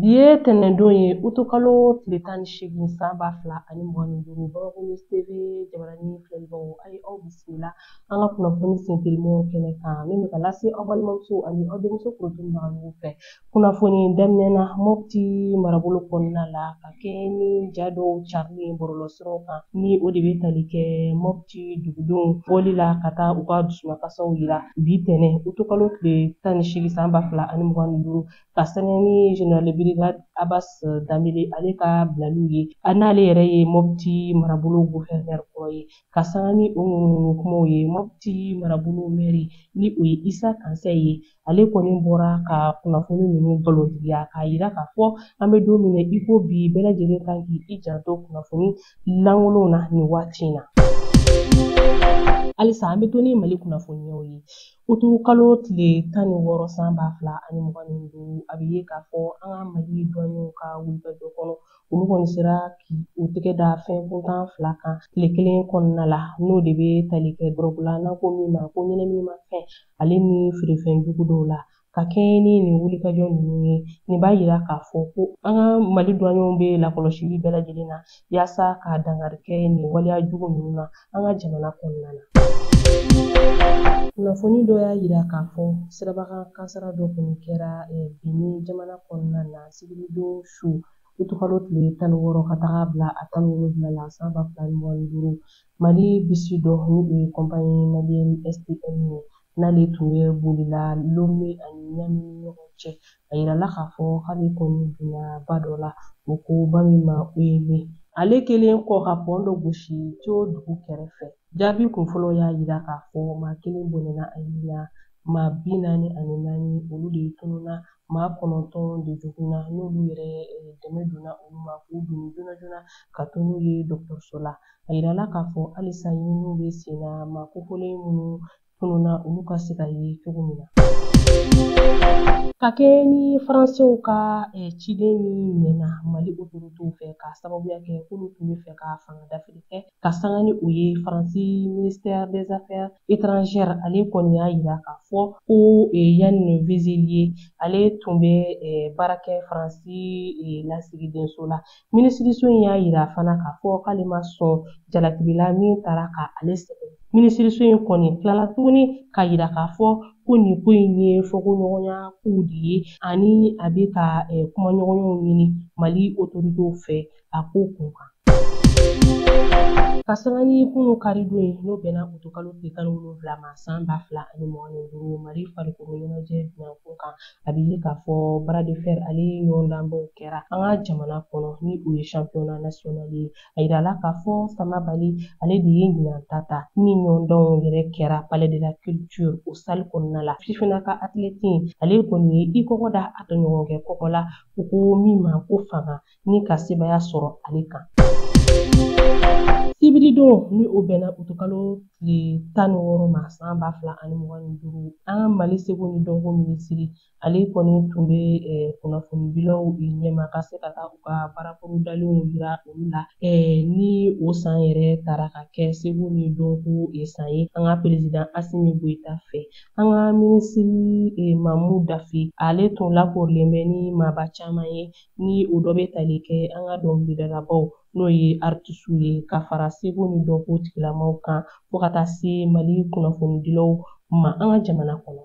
Bi ye tɛnɛndon ye utukalo tile tan ni seegin san ba fila ani mugan ni duuru bamakɔ TV jabarani filɛlibaw a ye aw bisimila an ka kunnafoni sentelimaw kɛnɛ kan min bɛ ka lase aw balimamuso ani aw denmuso kunnafonibaga fɛ kunnafoni daminɛ na mɔpti marabolo kɔnɔna la ka kɛɲɛ ni ja dɔw carili bɔlɔlɔsiraw kan ni o de bɛ tali kɛ mɔpti dugudenw bɔli la ka taa u ka dusumakasiw yira bi tɛnɛ utukalo tile tan ni seegin san ba fila ani mugan ni duuru ka sanga ni general brigade abbas danbele ale ka bilaliw ye n'ale yɛrɛ ye mɔpti marabolo guvɛrinɛr kɔrɔ ye ka sanga ni o ŋunuŋunu kumaw ye mɔpti marabolo mɛri ni o ye isa kansɛ ye ale kɔni bɔra ka kunnafoni ninnu galontigiya k'a yira k'a fɔ an bɛ don min na i ko bi bɛɛ lajɛlen kan k'i janto kunnafoni lankolonw na nin waati in na halisa an bɛ to ni mali kunnafoniyaw ye Utukalo tile tan ni wɔɔrɔ san ba fila ani mugan ni duuru a bɛ ye k'a fɔ an ka mali douaniers ka wulikajɔ kɔnɔ olu kɔni sera k'u tɛgɛ da fɛn kuntan fila kan tile kelen kɔnɔna la n'o de bɛ tali kɛ dɔrɔgu la n'an ko min ma ko ɲɛnaminimafɛn ale ni feerefɛn jugu dɔw la ka kɛɲɛ ni nin wulikajɔ ninnu ye nin b'a yira k'a fɔ ko an ka mali douaniers bɛ lakɔlɔsili bɛɛ lajɛlen na yaasa ka dankari kɛ nin waleya jugu ninnu na an ka jamana kɔnɔna na kunnafoni dɔ y'a yira k'a fɔ sirabakan kasaara dɔ kɔni kɛra eh, benin jamana kɔnɔna na sibiridon su utukalo tile tan ni wɔɔrɔ ka taga bila a tan ni wolonwula la san ba fila ni mugan ni duuru mali bisi dɔ ni o ye kɔnpani maliɛn stm ye n'ale tun bɛ bolila lome ani niamey ni ɲɔgɔn cɛ a yirala k'a fɔ k'ale kɔni binna ba dɔ la u ko ba min ma ouémé ale kɛlen kɔ ka pɔn dɔ gosi tio dugu kɛrɛfɛ jaabi kunfɔlɔ y'a yira k'a fɔ maa kelen bɔnɛna a ni la maa bi naani ani naani olu de tununna maa kɔnɔntɔn de joginna n'olu yɛrɛ dɛmɛ donna olu ma k'u doni joona joona ka taa n'u ye dɔgɔtɔrɔso la a yirala k'a fɔ halisa ɲininiw bɛ sen na maa kofɔlen minnu tununna olu ka se ka ye cogo min na ka kɛɲɛ ni faransew ka eh, ciden min minɛna mali otoritew fɛ k'a sababuya kɛ k'olu tun bɛ fɛ ka fanga dafiri kɛ ka sanga ni o ye faransi ministère des affaires étrangères ale kɔni y'a yira k'a fɔ ko e, yann vezilier ale tun bɛ e, baara kɛ faransi e, lasigidenso la minisiriso in y'a yira fana k'a fɔ k'ale ma sɔn jalakili la min taara ka ale sɛgɛrɛ minisiriso in kɔni tilala tuguni k'a yira k'a fɔ ko nin ko in ye fɔkoɲɔgɔnya kow de ye ani a bɛ ka kumaɲɔgɔnyaw ɲini mali otoritew fɛ a ko kun kan ka sanga ni kunu karidon ye n'o bɛnna utukalo tile tan ni wolonwula ma san ba fila ani mugan ni duuru mali farikolo ɲɛnajɛ bina kun kan a bɛ ye k'a fɔ bras de fer ale ɲɔgɔndanbaw kɛra an ka jamana kɔnɔ ni o ye championnat national ye a yirala k'a fɔ sama bali ale de ye ɲinan ta ta ni ɲɔgɔndanw yɛrɛ kɛra palais de la culture o salle kɔnɔna la fifina ka athlète ale kɔni ye i kɔgɔ da a tɔɲɔgɔnkɛ kɔgɔ la u ko min ma ko fanga ni ka sebaya sɔrɔ ale kan sibiridon ni o bɛnna utukalo tile tan ni wɔɔrɔ ma san ba fila ani mugan ni duuru an ka mali seko ni dɔnko minisiri ale kɔni tun bɛ eh, kunnafoni dilaw ɲɛma ka se ka taa u ka baara bolodalenw jira olu la eh, ni o san yɛrɛ tara ka kɛ seko ni dɔnko eh, san ye an ka perezidan asimi goyita fɛ an ka minisiri mamu dafe ale tun lakorilen bɛ ni maaba caman ye ni o dɔ bɛ tali kɛ an ka dɔnkilidalabaaw n'o ye artisiw ye ka fara seko ni dɔnko tigilamaaw kan fo ka taa se mali kunnafonidilaw ma an ka jamana kɔnɔ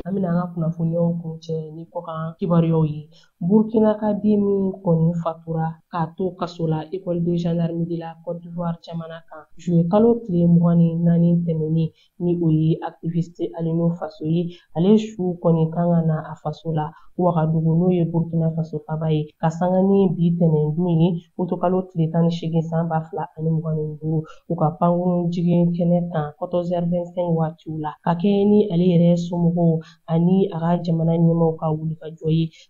an bɛna an ka kunnafoniyaw kuncɛ ni kɔkan kibaruyaw ye burkina ka den min kɔni fatura k'a to kaso la école de gendarmerie de la côte d'ivoire jamana kan juye kalo tile mugan ni naani tɛmɛnen ni o ye activiste Alino faso ye ale su kɔni kan ka na a faso la Wagadugu n'o ye Burkina faso faba ye ka sanga ni bi tɛnɛndon ye utukalo tile tan ni seegin san ba fila ani mugan ni duuru u ka pankurun jigin kɛnɛ kan 14h25 waatiw la ka kɛɲɛ ni ale yɛrɛ somɔgɔw ani a ka jamana ɲɛmaaw ka wulikajɔ ye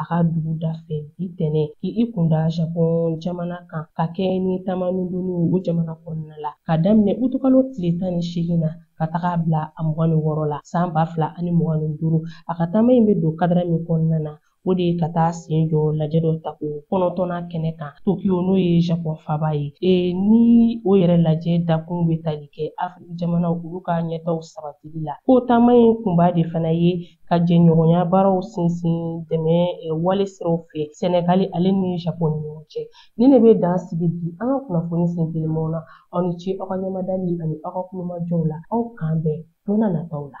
a ka dugu da fɛ bi tɛnɛn k'i kun da Japɔn jamana kan ka kɛɲɛ ni taamani dɔ ye o jamana kɔnɔna la ka daminɛ utukalo tile tan ni seegin na ka taga bila a mugan ni wɔɔrɔ la san ba fila ani mugan ni duuru a ka taama in bɛ don kadara min kɔnɔna na o de ye ka taa sen jɔ lajɛ dɔ tako kɔnɔntɔnnan kɛnɛ kan tokiyo n'o ye japɔn faba ye e, ni o yɛrɛ lajɛ dakun bɛ tali kɛ afiriki jamanaw olu ka ɲɛtaaw sabatili la ko taama in kunba de fana ye ka jɛɲɔgɔnya baaraw sinsin dɛmɛ wale siraw fɛ sɛnɛgali ale ni japon ni ɲɔgɔn cɛ ni ne bɛ dan sigi bi an ka kunnafoni sen telimanw na aw ni ce aw ka ɲɛmadali ani aw ka tulomajɔw la aw k'an bɛn don na nataw la